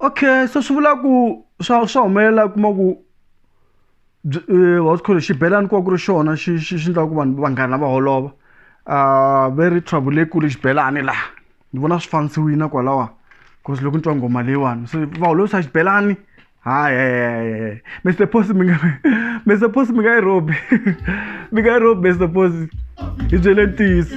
Okay so swi vula ku swa swa humelela u kuma ku what call xibelani ku va ku ri xona xi xi xi endlaka ku vanhu vanghana va holova very trouble leyikulu xibelani laha ni vona swi fanisiwile kwalawa cause loko ni twa nghoma leyiwani se va holovisa xibelani hayi Mister Posi mi nga Mister Posi mi nga yi rhobi mi nga yi rhobi Mister Posi hi byele ntiyiso.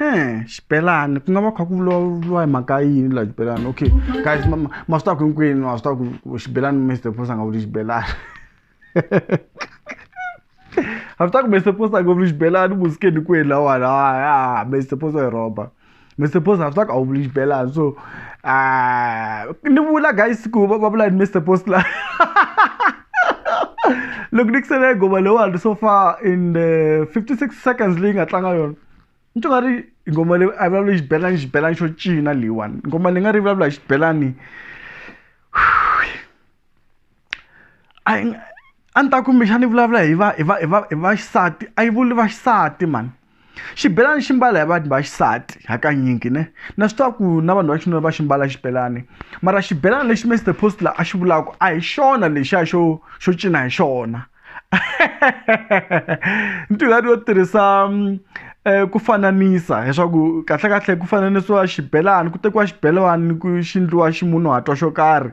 Ehe, xibelani ku nga va kha ku vulavuriwa hi mhaka yini la xibelani okay guys ma ma- ma swi tiva ku hinkwenu ma swi tiva ku ku xibelani Mister Posa a nga vuli xibelani a swi tiva ku Mister Posa a nga vuli xibelani u musikeni kwini lawani ha Mister Posa i rhoba Mister Posa a swi tiva ku a wu vuli xibelani so ni vula guys ku va va vula yini Mister Posa la. loko ni kusele gova leyiwani so far in the 56 seconds leyi nga tlanga yona ni twa nga ri nghoma leyi a vulavula xibelani xibelani xo cina leyiwani nghoma ni nga ri vulavula hi xibelani a ni ta kumbexana ni vulavula hi va hi va hi va hi vaxisati a yi vuli vaxisati mhani xibelani xi mbala hi vanhu va xisati hakanyingi ne na swi tiva ku na vanhu va xinuna va xi mbala xibelani mara xibelani lexi Mister Postler a xi vulaka a hi xona lexiya xo xo cina hi xona ni ti nga ri yo tirhisa ku fananisa leswaku kahlekahle ku fananisiwa xibelani ku tekiwa xibelani ku xi endliwa ximunhuhatwa xo karhi.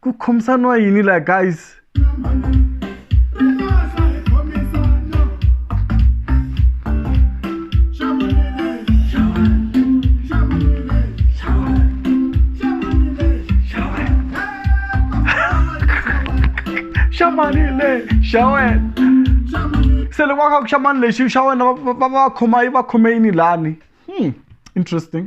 ku khomisaniwa yini la guys xamanile xa wena se loko va kha ku xamani lexi xa wena va va va khoma yi va khome yini lani interesting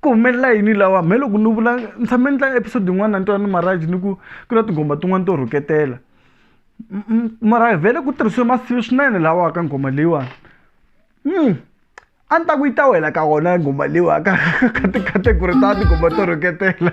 ku humelela yini lawa mhe loko ni vula ni tshame ni tlanga episode yin'wana ni twa ni marhaji ni ku ku na tinghoma tin'wani to rhuketela mara vhele ku tirhisiwe masivi swinene lawa ka nghoma leyiwani a ni ta ku yi ta wela ka wona nghoma leyiwa ka ka ti-category ta tinghoma to rhuketela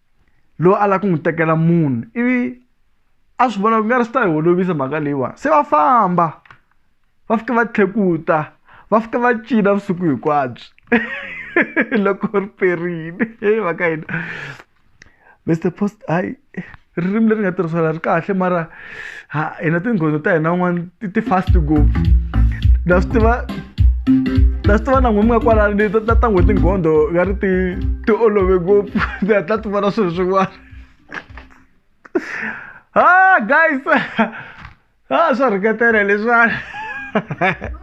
loyi a lava ku n'wi tekela munhu ivi a swi vona ku nga ri swi ta hi olovisa mhaka leyiwani se va famba va fika va tlhekuta va fika va cina vusiku hinkwabyo loko ri perile heyi va ka hina Mister Post hayi ririmi leri nga tirhisiwa la ri kahle mara. Ha, e na tinghondzo ta hina un'wana ti ti fast ngopfu na swi tiva na swi tiva na n'we mi nga kwalani leti ta ta n'we tinghondho nga ri ti ti olove ngopfu ti hatla ti vona swilo swin'wana ha guys ha swa rhuketela leswiwani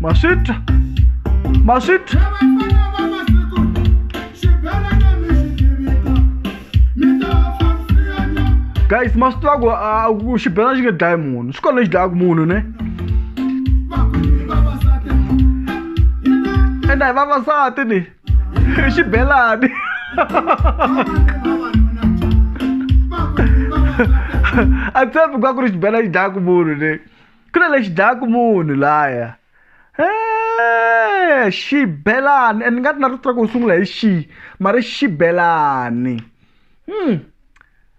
maswita maswita guys maswita aku ah, ku xibelana xi nge dlayi munhu swi kona lexi dlayaka munhu ne enda hi vavasati ni hi xibelani a tshembi ku va ku ri xibelani xi dlayaka munhu ne ku na lexi dlayaku munhu laya e xibelani and ni nga ri na rito ra ku u sungula hi xi mara xibelani hmm.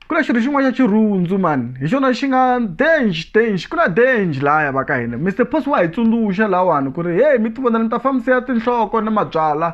ku na xirho xin'wana xa xirhundzu mani hi xona xi nga dange dange ku na dange laya va ka hina mister pos wa hi tsundzuxa lawani ku ri heyi mi ti vona ni ta fambisa ya tinhloko ni mabyala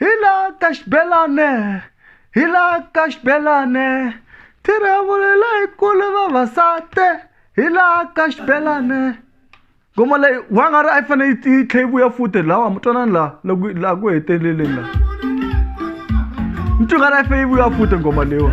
Hila ka xibelane hila ka xibelane thiravulela hi kule vavasati hila ka xibelane ngoma leyi wa nga ri a yi fanele yi yi tlhe yi vuya futi lawa mi twanani laha loko laha ku heteleleni laha mi twi nga ri a yi fanele yi vuya futi ngoma leyiwa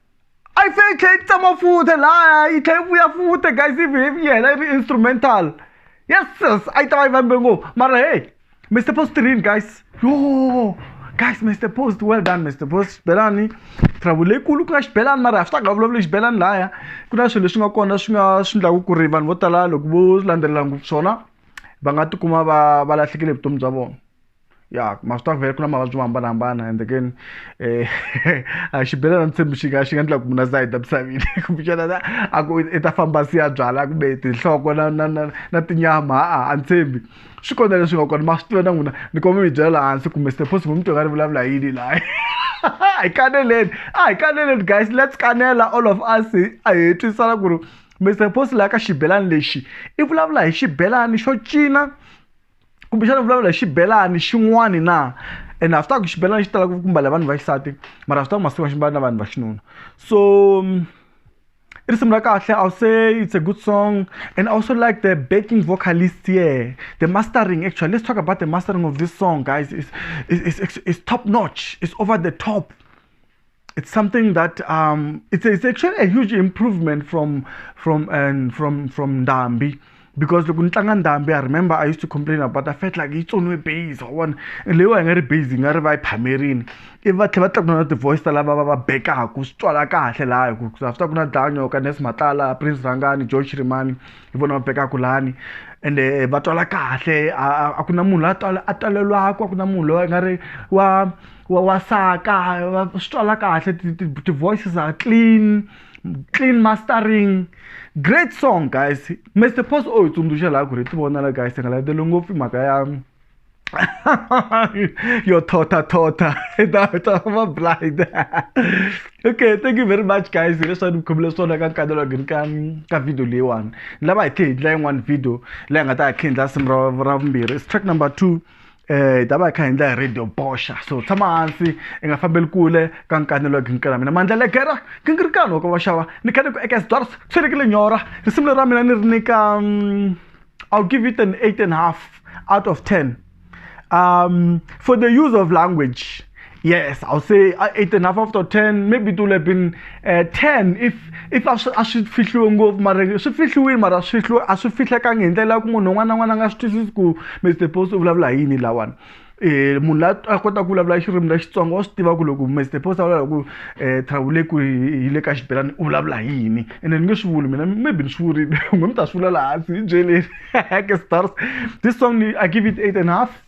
a yi fanele yi tlhela yi tsama futhi laya yi tlhela yi vuya futhi guys yi yi hela yi ri instrumental yes yes a yi ta va yi vambe ngopfu mara hey mr post rini guys yo guys mr post well done mr post xibelani travel leyikulu ku nga xibelani mara swi ta nga vulavuli xibelani laya ku na swilo leswi nga kona swi nga swi endlaku ku ri vanhu vo tala loko vo landzelela ngopfu swona va nga tikuma va va lahlekele vutomi bya vona ya ma swi tiva ku vhele ku na mavabyi mo hambanahambana ende keni um a xibelana ni tshembi xi nga xi nga endla ku mina za heta misaveni kumbexana na a ku i ta famba si ya byala kumbe tinhloko na na na na tinyama ha-a a ni tshembi swi kona leswi nga kona ma swi tiva na n'wina ni kuma mi byela laha hansi kumbe stephosi mu mi tiva nga ri vulavula hi yini laha hi kaneleni a hi kaneleni guys let's kanela all of us a hi twisisana ku ri mr post laha ka xibelani lexi i vulavula hi xibelani xo cina kumbexana vulavula hi xibelani xin'wani na and a swi ta ku xibelani xi talaka ku mbala vanhu va xisati mara a swi ta ku masiku ma xi mbala na vanhu va xinuna so i risimu ra kahle i'll say it's a good song and i also like the backing vocalist here the mastering actually let's talk about the mastering of this song guys it's, it's, it's, it's top notch it's over the top it's something that um, it's, it's actually a huge improvement from from and from from Ndambi because loko ni tlanga ndhambi i remember i used to complain about i felt like yi tsoniwe base wona leyiwa yi nga ri base yi nga ri va yi phamerini ivi va tlhela va tlakula na ti-voice ta lava va va bekaku swi twala kahle laha hi ku after ku na danyo ka nes matala prince rhangani john shirimani hi vona va bekaku lani ende eh, va twala kahle a ku na munhu loyi a twala a twalelwaku a ku na munhu loyi a nga ri wa wa wasaka wa swi twala kahle ti-voices are clean clean mastering great song guys mr post o hi tsundzuxa laha ku ri ti vonala guys hi nga landzeli ngopfu mhaka ya yo thotha thotha data va blind okay thank you very much guys hileswaku ni khomile swona ka nkanelo gini ka ka video leyiwani ni lava hi tlhe hi ndlela yin'wani video leyi nga ta hi khendla simu ra ra vumbirhi is track number two eh hi ta va hi kha hi endla hi radio boxa so tshama hansi i nga fambeli kule ka nkanelo wa ginkela mina mandla legera gingirikani wa ka vaxava ni khale ku eka sdors tshelekile nyora risimu leri ra mina ni ri nyika mm, i'll give it an eight and half out of ten um for the use of language Yes, I'll say uh, eight and a half out of ten. Maybe it would have been uh, ten if if a swi fihliwe ngopfu mara swi fihliwile mara swi fihliwe a swi fihlekangi hi ndlela ya ku munhu un'wana na un'wana a nga swi twisisi ku Mr Post u vulavula hi yini lawani um munhu la a kota ku vulavula xirimi ra xitsonga wa swi tiva ku loko Mr Post a vulavula ku um travule ku hi le ka xibelani u vulavula hi yini ene ni nge swi vuli mina maybe ni swi vurile n'we mi ta swi vula laha hansi hi byeleri ke stars this song i give it eight and half